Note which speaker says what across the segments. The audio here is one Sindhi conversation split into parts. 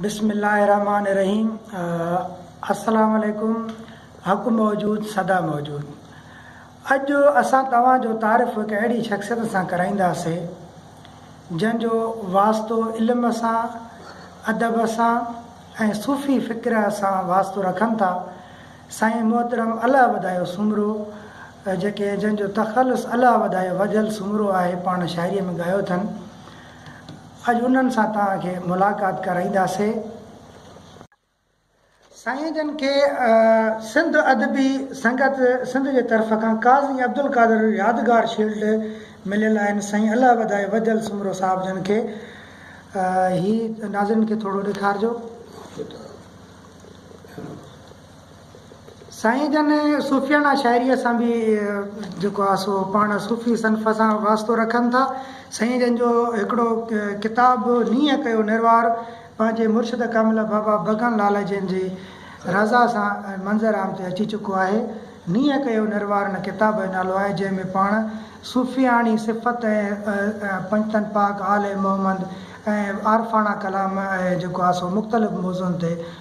Speaker 1: بسم الله الرحمٰن الرحيم السلام عليڪم حق موجود سدا موجود اڄ اسان توهان جو تعارف هڪ اهڙي شخصيت سان ڪرائينداسي جنهن جو واسطو علم سان ادب سان ۽ صوفي فڪر سان واسطو رکن ٿا سائين محترم الله وڌايو سومرو جيڪي جنهن جو تخلص الله وڌايو وڌل سومرو آهي پاڻ شاعري ۾ ڳايو اٿن اڄ انهن سان توهان کي ملاقات ڪرائينداسين. سائين جن کي سنڌ ادبي سنگت سنڌ جي طرف کان قاضي عبدالقادر يادگار شيلڊ مليل آهن سائين الله وڌائي وڌل سومرو صاحب جن کي هي ناظرين کي ٿورو ڏيکارجو. سائين جن صوفياڻا شاعريء سان به جيڪو آهي سو پاڻ صوفي صنف سان واسطو رکن ٿا. سائين جن جو هڪڙو ڪتاب نينهن ڪيو نروار پنهنجي مرشد ڪامل بابا ڀڳن لال جن جي رضا سان منظر عام تي اچي چڪو آهي. نينهن ڪيو نروار ان ڪتاب جو نالو آهي جنهن ۾ پاڻ صوفياڻي صفت ۽ پنجتن پاڪ آل محمد ۽ عارفاڻا ڪلام ۽ جيڪو آهي سو مختلف موضوعن تي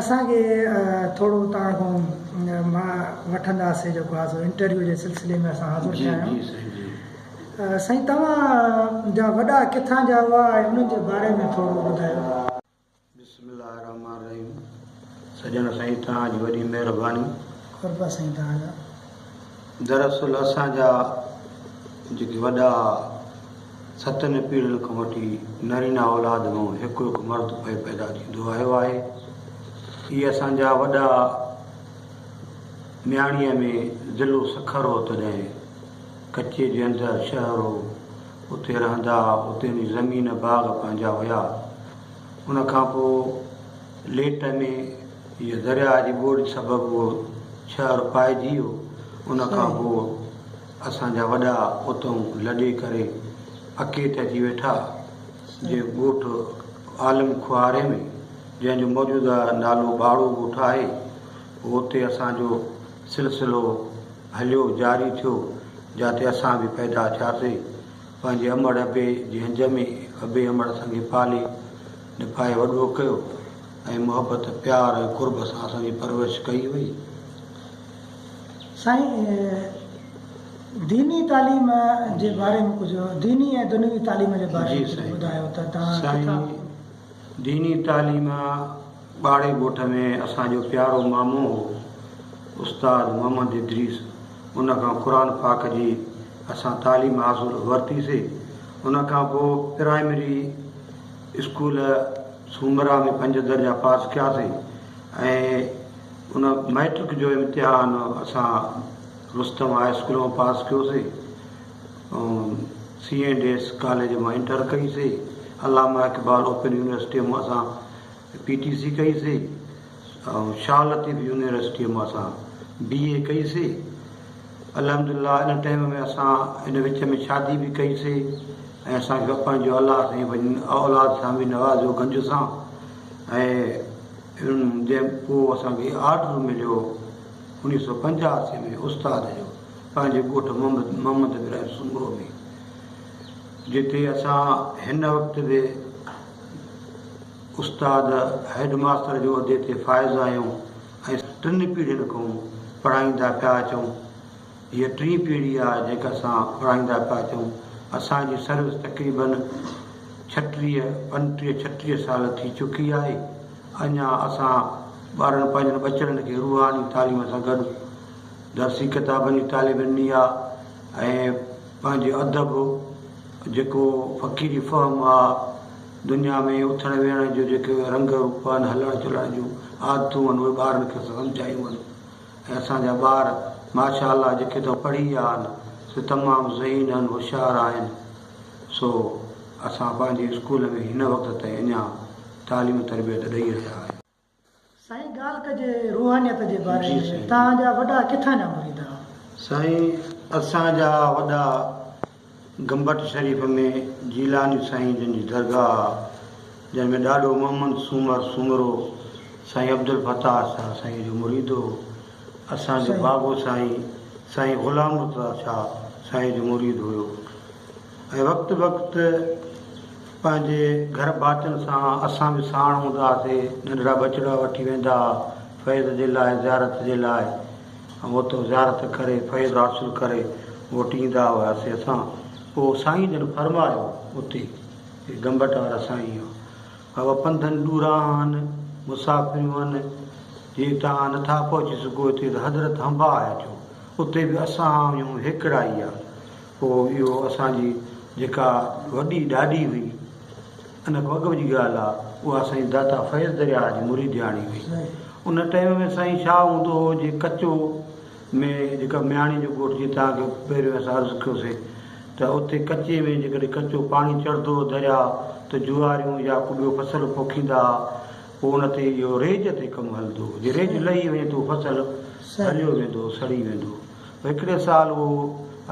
Speaker 1: اسان کي ٿورو اتان کان مان وٺنداسين جيڪو آ سو انٽرويو جي سلسلي ۾ اسان حاضر ٿيا آهيون سائين توهان جا وڏا ڪٿان جا هئا ۽ انهن جي باري ۾ ٿورو ٻڌايو. بسم الله الرحمن
Speaker 2: الرحيم سڄڻ سائين توهان جي وڏي مهرباني. قربا سائين
Speaker 1: توهان جا.
Speaker 2: دراصل اسان جا جيڪي وڏا ستن پيڙهين کان وٺي نرينا اولاد مان هڪ هڪ مرد پئي پيدا ٿيندو آيو آهي. اهي اسان جا وڏا مياڻيء ۾ ضلعو سکر هو تڏهن ڪچي جي اندر شهر هو اتي رهندا اتي جي زمين باغ پنهنجا هيا ان کان پوء ليٽ ۾ جو درياهه جي ٻوڏ سبب اهو شهر پائجي ويو ان کان پوء اسان جا وڏا اتئون لڏي ڪري پڪي تي اچي ويٺا جي ڳوٺ عالم کوهاري ۾ جنهن جو موجوده نالو ٻاڙو ڳوٺ آهي پوء اتي اسان جو سلسلو هليو جاري ٿيو جاتي اسان به پيدا ٿياسي پنهنجي امڙ ابي جي هنج ۾ ابي امڙ سنگي پالي نڀائي وڏو ڪيو ۽ محبت، پيار ۽ قرب سان اسان جي پرورش ڪئي وئي. سائين ديني تعليم جي باري ۾ ڪجهه ديني
Speaker 1: ۽ دنيوي تعليم جي باري ۾
Speaker 2: ڪجهه ٻڌايو ته توهان ڪٿان ڪٿان سائين ديني تعليم ٻاڙي ڳوٺ ۾ اسان جو پيارو مامو هو استاد محمد ادريس ان کان قرآن پاڪ جي اسان تعليم حاصل ورتي سي ان کان پوء پرائمري اسڪول سومرا ۾ پنج درجا پاس ڪياسين ۽ ان مئٽرڪ جو امتحان اسان رستم هاء اسڪول مان پاس ڪيوسين سي اينڊ ايس ڪاليج مان انٽر ڪئي سي علامه اقبال اوپن يونيورسٽي مان اسان پي ٽي سي ڪئي سي آئون شاهه لطيف يونيورسٽيء مان اسان بي اي ڪئي سي. الحمد لله ان ٽيم ۾ اسان ان وچ ۾ شادي به ڪئي سي ۽ اسان کي بپائن جو الله سائين پنهنجي اولاد سان به نوازيو گنج سان ۽ جنهن پوء اسان کي آرڊر مليو هو انيس سئو پنجاسي ۾ استاد جو پنهنجي ڳوٺ محمد ابراهيم سومرو ۾ جتي اسان هن وقت به استاد هيڊ ماستر جي عهدي تي فائز آهيون ۽ ٽن پيڙهين کان پڙهائيندا پيا اچون. هيء ٽين پيڙهي آ جيڪا اسان پڙهائيندا پيا اچون. اسان جي سروس تقريبن ڇٽيهه پنٽيهه ڇٽيهه سال ٿي چڪي آهي. اڃا اسان ٻارن پنهنجن ٻچڙن کي روحاني تعليم سان گڏ درسي ڪتابن جي تعليم ڏني آ ۽ پنهنجي ادب جيڪو فقيري فهم آ دنيا ۾ اٿڻ ويهڻ جون جيڪي اهي رنگ روپ آهن، هلڻ چلڻ جون عادتون آهن، اهي ٻارن کي اسان سمجهايون آهن ۽ اسان جا ٻار ماشاء الله جيڪي تو پڙهي ويا آهن، سي تمام ذهين آهن، هوشيار آهن، سو اسان پنهنجي اسڪول ۾ هن وقت تائين اڃا تعليم تربيت ڏئي رهيا آهيون. سائين
Speaker 1: ڳالھ ڪجي روحانيت جي باري ۾ توهان جا وڏا
Speaker 2: ڪٿان
Speaker 1: جا مريد ھئا؟ سائين
Speaker 2: اسان جا وڏا گمبٽ شريف ۾ جيلاني سائين جن جي درگاھ آ جنھن ۾ ڏاڏو محمد سومر سومرو سائين عبدالفتاح شاھ سائين جو مريد ھو اسان جو بابو سائين سائين غلام مرتضيٰ شاھ سائين جو مريد ھيو. ۽ وقت بوقت پنهنجي گهر ڀاتين سان اسان به ساڻ هوندا هئاسين، ننڍڙا ٻچڙا وٺي ويندا ها فيض جي لاء زيارت جي لاء ۽ اتو زيارت ڪري فيض حاصل ڪري موٽي ايندا هئاسين اسان، پوء سائين جن فرمايو اتي جي گمبٽ وارا سائين هئا بابا پنڌن ڏورا آهن مسافريون آهن جي توهان نٿا پهچي سگهو هتي ته حضرت هنباهه اچو اتي به اسان آهيون هيڪڙا ئي آهن. پوء اهو اسان جي جيڪا وڏي ڏاڏي هئي، ان کان اڳ جي ڳالهه آ، اها سائين داتا فيض درياهه جي مريدياڻي هئي. ان ٽيم ۾ سائين شاهه هوندو هو جي ڪچو ۾ جيڪا مياڻي جو ڳوٺ جيئن توهان کي پهريون اسان عرض ڪيو سي ته اتي ڪچي ۾ جيڪڏهن ڪچو پاڻي چڙهندو هو درياهه ته جواريون يا ڪو ٻيو فصل پوکيندا ها، پوء ان تي اهو ريج تي ڪم هلندو هو، جي ريج لهي وڃي ته اهو فصل هريو ويندو هو، سڙي ويندو هو. هڪڙي سال اهو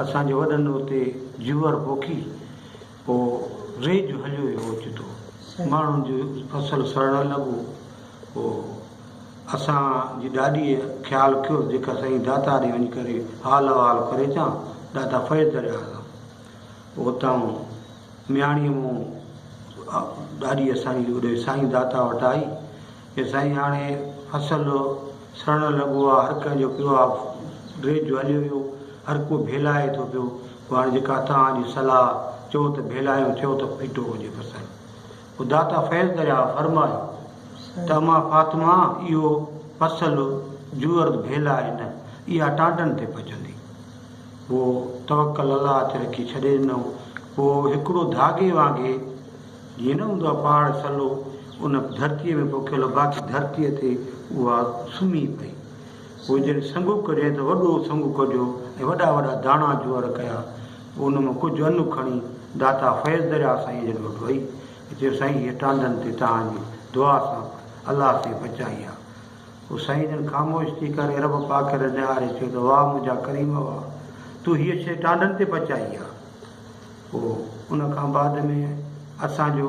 Speaker 2: اسان جي وڏن اتي جوئر پوکي پوء ريج هليو ويو اوچتو ماڻهن جو فصل سڙڻ لڳو پوء اسان جي ڏاڏيء خيال ڪيو جيڪا سائين داتا ڏي وڃي ڪري حال احوال ڪري اچان ڏاتا فيض درياء کان پوء اتان مياڻيء مون ڏاڏي اسان جي اوڏي سائين داتا وٽ آئي اي سائين هاڻي فصل سڙڻ لڳو آ هر ڪنهن جو پيو آ ڊريج جو هليو ويو هر ڪو ڀيلائي ٿو پيو پوء هاڻي جيڪا توهان جي صلاح چئو ته ڀيلايون چئو ته ڦٽو هجي فصل پوء داتا فيض درياء فرمايو ته امان فاطمه اهو فصل جوئرد ڀيلائي نه اها ٽانڊن تي پچندي پوء توڪل الله تي رکي ڇڏي ڏنو پوء هڪڙو ڌاڳي وانگي جي نه هوندو آ پهاڙ سلو، ان ڌرتيء ۾ پوکيل باقي ڌرتيء تي اها سمهي پئي. پوء جڏهن سنگهو ڪڍيائين ته وڏو سنگهو ڪڍيو ۽ وڏا وڏا داڻا جوئر ڪيا. پوء ان مان ڪجهه ان کڻي داتا فيض درياهه سائينء جن وٽ وئي ۽ چيو، سائين هيء ٽانڊن تي توهان جي دعا سان الله سائين بچائي آ. پوء سائينء جن خاموش ٿي ڪري رب پاڪ ڏي نهاري چيو ته واهه منهنجا ڪريم واهه! تو هيء شيء ٽانڊن تي پچائي آ. هو. ان کان بعد ۾ اسان جو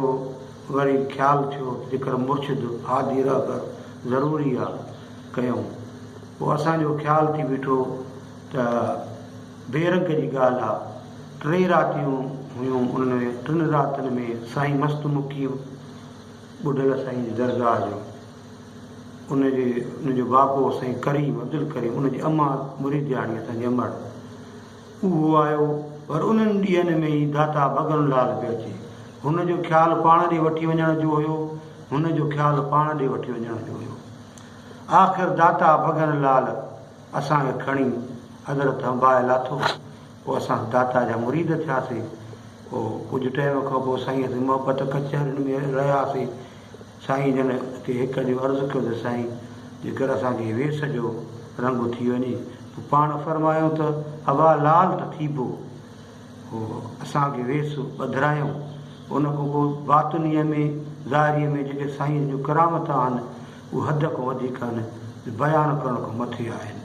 Speaker 2: وري خيال ٿيو ذڪر مرشد هادي رهبر ضروري آ ڪيون. پوء اسان جو خيال ٿي بيٺو ته بي رنگ جي ڳالهه آ. ٽي راتيون هيون انهن ٽن راتين ۾ سائين مست مقيم ٻڍل سائين جي درگاهه جو ان جي ان جو بابو سائين ڪريم عبدالڪريم ان جي امان مريدياڻي اسان جي امڙ اهو آيو، پر انهن ڏينهن ۾ ئي داتا ڀڳن لال پيو اچي. هن جو خيال پاڻ ڏي وٺي وڃڻ جو هيو. هن جو خيال پاڻ ڏي وٺي وڃڻ جو هيو. آخر داتا ڀڳن لال اسان کي کڻي ادرت هنباهه لاٿو. پوء اسان داتا جا مريد ٿياسين. پوء ڪجهه ٽيم کان پوء سائينء سين محبت ڪچهرين ۾ رهياسين. سائين جن کي هڪ ڏينهن عرض ڪيو ته سائين جيڪر اسان کي ويس جو رنگ اٿي وڃي پوء پاڻ فرمايو ته اڀا لال ته ٿيبو. پوء اسان کي ويس ٻڌرايائون. ان کان پوء باطنيء ۾ ظاهريء ۾ جيڪي سائين جون ڪرامتون آهن اهي حد کان وڌيڪ آهن جو بيان ڪرڻ کان مٿي آهن.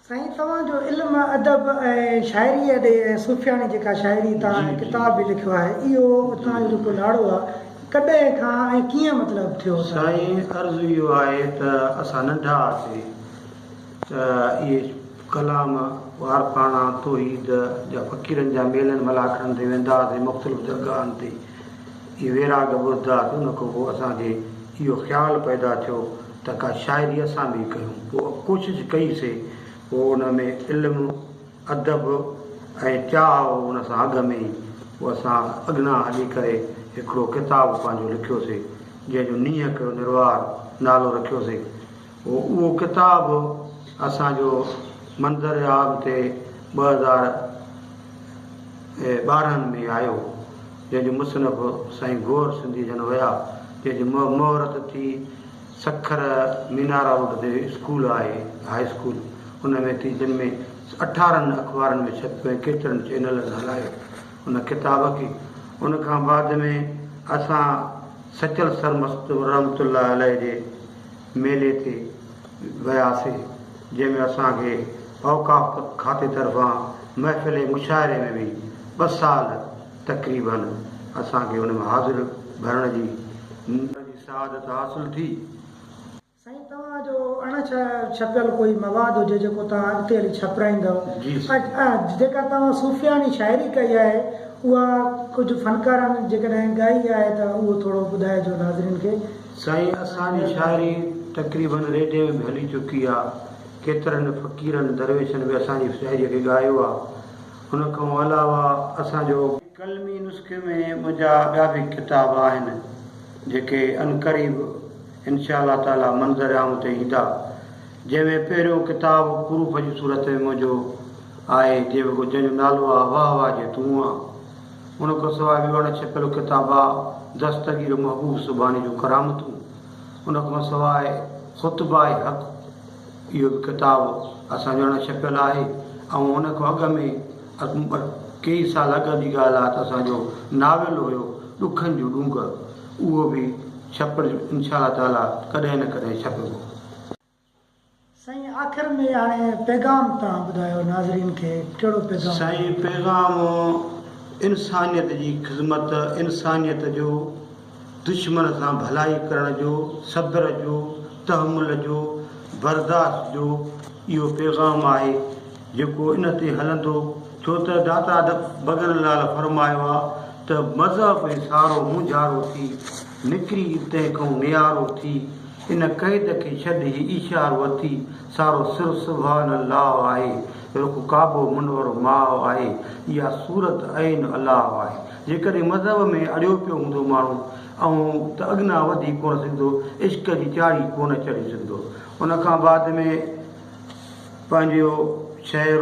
Speaker 1: سائين توهان جو علم ادب ۽ شاعري ڏي ۽ صوفياڻي جيڪا شاعري تان ۽ ڪتاب به لکيو آهي اهو اتان جو جيڪو لاڙو آهي ڪڏهن کان ۽ ڪيئن مطلب ٿيو ته. سائين عرض
Speaker 2: اهو آهي ته اسان ننڍا هئاسي ته اهي ڪلام وارپاڻا توحيد جا فقيرن جا ميلن ملاکڙن تي ويندا هئاسي مختلف درگاهن تي اهي ويراڳ ٻڌدا ته ان کان پوء اسان کي اهو خيال پيدا ٿيو ته ڪا شاعري اسان به ڪيون. پوء ڪوشش ڪئي سي، پوء ان ۾ علم، ادب ۽ چاهه هو ان سان اگهه ۾ ئي پوء اسان اگهنا هلي ڪري هڪڙو ڪتاب پنهنجو لکيو سي، جنهن جو نيهه ڪيو نروار نالو رکيو سي. پوء اهو ڪتاب اسان جو منظر عام تي ٻه هزار. ٻارهن ۾ آيو، جنهن جو مصنف سائين گوهر سنڌيء جن هيا، جنهن جي مهورت ٿي سکر مينارا روڊ تي اسڪول آهي، هاء اسڪول، ان ۾ ٿي، جن ۾ اٺارهن اخبارن ۾ ڇپيو ۽ ڪيترن چئنلن هلايو ان ڪتاب کي، ان کان بعد ۾ اسان سچل سرمست رحمة الله عليه جي. ميلي تي وياسي جنهن ۾ اسان کي اوقاف کاتي طرفان محفل مشاعري ۾ به ٻه سال تقريباً اسان کي ان ۾ حاضر ڀرڻ جي سعادت حاصل ٿي. سائين
Speaker 1: توهان جو اڻ ڇپيل ڪوئي مواد هجي جيڪو توهان اڳتي هلي ڇپرائيندؤ ۽ جيڪا توهان صوفياڻي شاعري ڪئي آهي اها ڪجهه فنڪارن جيڪڏهن ڳائي آهي ته اهو ٿورو ٻڌائجو ناظرين کي. سائين اسان جي
Speaker 2: شاعري تقريباً ريڊيو ۾ به هلي چڪي آ، ڪيترن فقيرن دريوشن به اسان جي شاعري کي ڳايو آ، ان کان علاوه اسان جو. قلمي نسخي ۾ منهنجا ٻيا به ڪتاب آهن جيڪي عنقريب انشاء الله تعالي منظر عام تي ايندا جنهن ۾ پهريون ڪتاب پروف جي صورت ۾ منهنجو آهي جنهن جو نالو آ واهه واهه جي تون آ. ان کان سواء ٻيو اڻ ڇپيل ڪتاب آ دستگير محبوب سبحاني جون ڪرامتون. ان کان سواء خطباء حق اهو به ڪتاب اسان جو اڻ ڇپيل آهي ۽ ان کان اڳ ۾ ڪيئي سال اڳ جي ڳالهه آ ته اسان جو ناول هيو ڏکن جون ڏونگر اهو به ڇپجي انشاء الله تعاليٰ ڪڏهن نه ڪڏهن ڇپبو.
Speaker 1: سائين آخر ۾ هاڻي پيغام تان ٻڌايو ناظرين کي ڪهڙو پيغام. سائين پيغام
Speaker 2: انسانيت جي خدمت انسانيت جو دشمن سان ڀلائي ڪرڻ جو صبر جو تحمل جو برداشت جو اهو پيغام آهي جيڪو ان تي هلندو ڇو ته داتا بگن لال فرمايو آ ته مذهب ۽ سارو مونجهارو ٿي نڪري تنهن کئون نيارو ٿي ان قيد کي ڇڏ، هي ايشار وتي سارو سر سبحان الله آهي، رخ ڪعبو منورو ماهه آهي، اها صورت عين الله آهي، جيڪڏهن مذهب ۾ اڙيو پيو هوندو ماڻهو اهون ته اڳنا وڌي ڪونه سگهندو، عشق جي چاڙهي ڪونه چڙهي سگهندو. ان کان بعد ۾ پنهنجو شعر.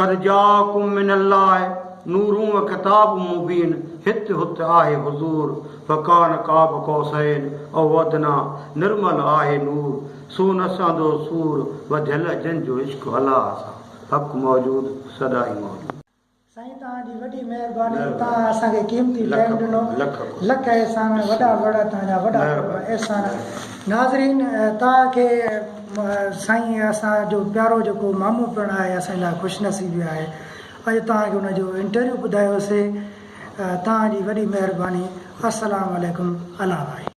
Speaker 2: قد جاءکم من الله نور و کتاب مبين هت هت آهي حضور فڪان قاب قوسين او ادنيٰ نرمل آهي نور سو نه سهندو سور وڌيل جن جو عشق هلا هسا حق موجود سدائين موجود. سائين توهان جي وڏي مهرباني توهان اسان کي قيمتي
Speaker 1: ٽائيم ڏنو لک احسان وڏا وڏا توهان جا وڏا احسان ناظرين توهان کي سائين اسان جو پيارو جيڪو مامو پڻ آهي اسان لاء خوش نصيبي آهي اڄ توهان کي ان جو انٽرويو ٻڌايوسي توهان جي وڏي مهرباني السلام عليڪم الله حافظ